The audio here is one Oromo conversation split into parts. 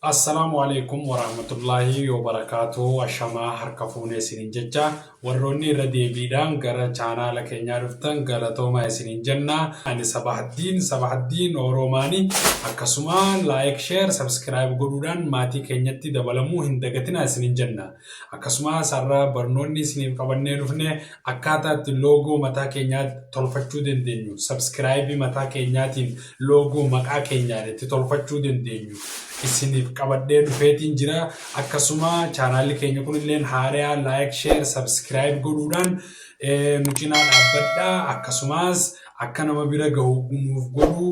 Assalaamu aleykum waraahmatullaahi wabarakaatuh ashamaa harka fuune isiniin jecha warroonni irra deebiidhaan gara chaanaala keenyaa dhuftan galatooma isiniin jenna ani sabahaddiin sabahaddiin oroomaani akkasuma laayik sheer sabskiraayib godhuudhaan maatii keenyatti dabalamuu hin dagatina isiniin jenna Akkasumaas har'a barnoonni isiniif qabannee dhufne akkaataa itti loogoo mataa keenyaa tolfachuu dandeenyu, sabskiraayibii mataa keenyaatiin loogoo maqaa keenyaan itti tolfachuu dandeenyu isiniif qabadhee dhufeetiin jira. Akkasuma chaanaalli keenya kun illeen haariyaa laayik, sheer, sabskiraayib godhuudhaan nu cinaa dhaabbadha. Akkasumaas akka nama bira gahu nuuf godhuu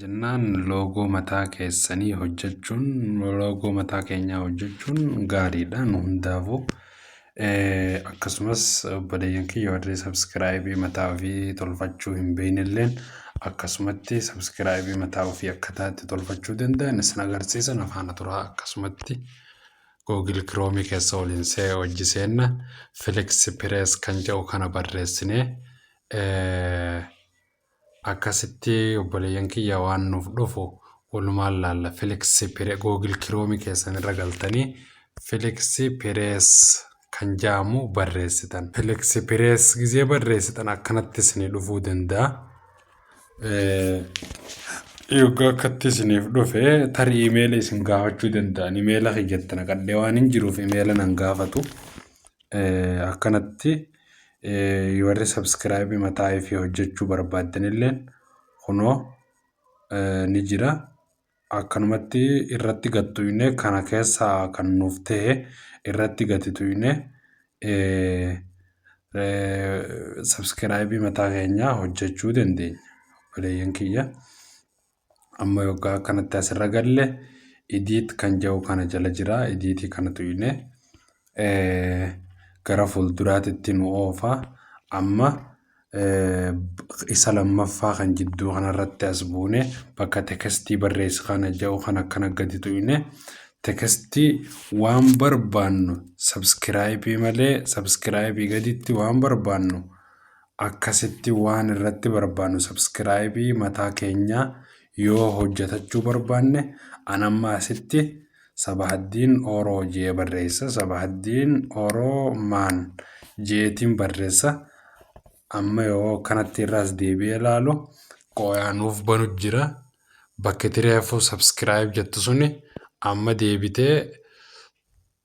jennaan loogoo mataa keessanii hojjechuun loogoo mataa keenyaa hojjechuun gaariidha nu hundaafuu Akkasumas obboleeyyan kiyya warri sabskiraayibii mataa ofii tolfachuu hin beeknelleen akkasumatti sabskiraayibii mataa ofii akkataa itti tolfachuu danda'an isin agarsiisa na faana turaa akkasumatti Google Chrome keessa waliin see hojji seenna Felix Perez kan jedhu kana barreessinee Akkasitti obboleeyyan kiyya waan nuuf dhufu walumaan laalla. Felix Pire Google Chrome keessan irra galtanii Felix Pires kan jaamu barreessitan. Felix Pires gizee barreessitan akkanatti isinii dhufuu danda'a. Yoggaa akkatti isiniif dhufe tarii imeela isin gaafachuu danda'an imeela kiyyatti naqadhee waan hin jiruuf imeela nan gaafatu. Akkanatti Warri subscribe mataa ifii hojjechuu barbaaddanilleen kunoo ni jira. Akkanumatti irratti gattuine kana keessaa kan nuuf ta'e irratti gatituine subscribe mataa keenyaa hojjechuu dandeenya. Obboleeyyan kiyya. amma yoggaa akkanatti asirra galle idiit kan jedhu kana jala jira idiitii kana tuyne gara fuulduraatitti nu oofa amma isa lammaffaa kan jidduu kanarratti as buune bakka tekestii barreessi kana jedhu kan akkana gadi tuyne tekestii waan barbaannu sabskiraayibii malee sabskiraayibii gaditti waan barbaannu Akkasitti waan irratti barbaannu subscribe mataa keenya yoo hojjatachuu barbaanne an amma asitti sabahaddiin oro jee barreessa sabahaddiin oro maan jeetiin barreessa amma yoo kanatti irraas deebi'ee ilaalu qooyaa nuuf banu jira bakki tireefuu subscribe jettu suni amma deebitee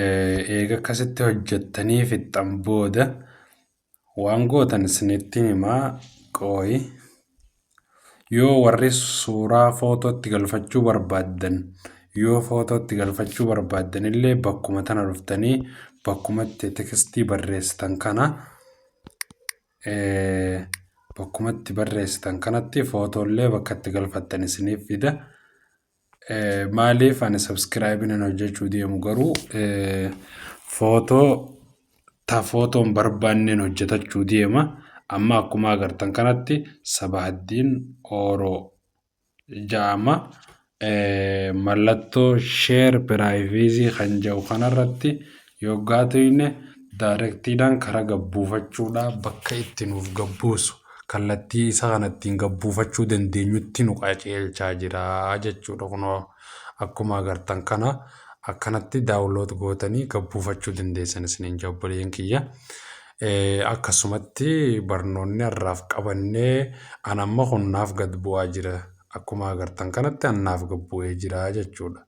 Eega akkasitti hojjettanii fixxan booda waan gootan isinitti himaa qooyi. Yoo warri suuraa footootti galfachuu barbaaddan yoo footootti galfachuu barbaaddan illee bakkuma tana dhuftanii bakkuma itti tekstii barreessitan kana bakkuma itti barreessitan kanatti footoo illee bakka itti galfattan isiniif fida. Maaliif ani subscribe nan hojjechuu deemu garuu footoo ta footoon barbaanneen hojjetachuu deema amma akkuma agartan kanatti sabaaddiin ooroo ja'ama mallattoo sheer piraayivizii kan ja'u kanarratti Yoggaa tuyne directiidhaan kara gabbuufachuudha bakka itti nuuf gabbuusu kallattii isa kana ittiin gabbuufachuu dandeenyutti nu qaceelchaa jira jechuudha kunoo akkuma agartan kana akkanatti daawunlood gootanii gabbuufachuu dandeessan isiniin jabboleen kiyya akkasumatti barnoonni har'aaf qabannee an amma kun naaf gad bu'aa jira akkuma agartan kanatti an naaf gabbu'ee jira jechuudha.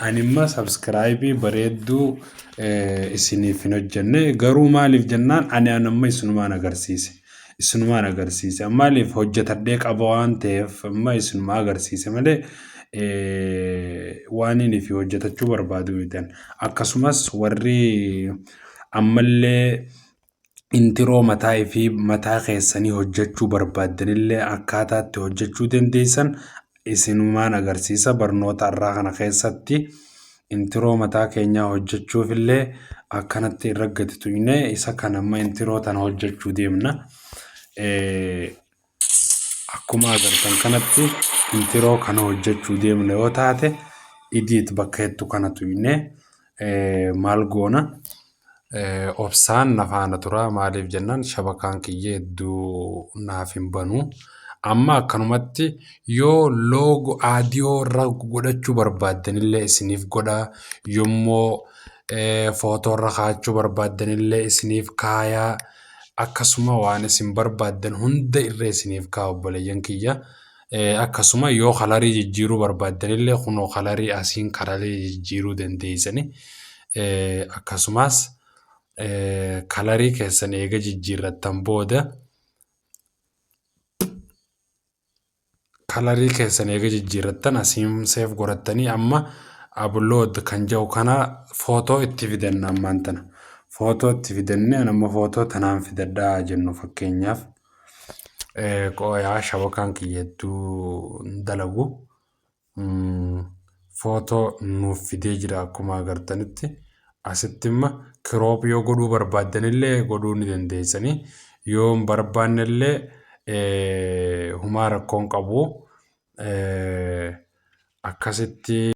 Animma subscribe bareedduu isiniif hin hojjenne garuu maaliif jennaan ani anamma isinumaan agarsiise isinumaan agarsiise maaliif hojjetadhee qaba waan ta'eef amma isinumaa agarsiise malee waan inni fi hojjetachuu barbaadu mitan akkasumas warri ammallee intiroo mataa fi mataa keessanii hojjechuu barbaaddanillee akkaataa itti hojjechuu dandeessan isinumaan agarsiisa barnoota irraa kana keessatti intiroo mataa keenyaa hojjechuuf illee akkanatti irra gadi tuqne isa kan amma intiroo tana hojjechuu deemna. akkuma agartan kanatti intiroo kana hojjechuu deemna yoo taate idiit bakka jettu kana tuyne maal goona obsaan na faana tura maaliif jennaan shabakaan kiyya hedduu naaf hin banu amma akkanumatti yoo loogo aadiyoo irra godhachuu barbaaddanillee isiniif godha yommoo footoo irra kaachuu barbaaddanillee isiniif kaayaa. Akkasuma waan isin barbaaddan hunda irra isiniif kaa'a obboleeyyan kiyya. Akkasuma yoo kalarii jijjiiruu barbaaddanillee kunoo kalarii asiin kalarii jijjiiruu dandeessani. Akkasumas kalarii keessan eega jijjiirrattan booda kalarii keessan eega jijjiirrattan asiin seef godhattanii amma upload kan jedhu kana footoo itti fidanna ammaan tana footoo itti fidanne an amma footoo tanaan fidadhaa jennu fakkeenyaaf qooyaa shabakaan kiyya hedduu dalagu footoo nuuf fidee jira akkuma agartanitti asitti imma kiroop yoo godhuu barbaaddanillee godhuu ni dandeessanii yoo hin barbaannellee humaa rakkoon qabu akkasitti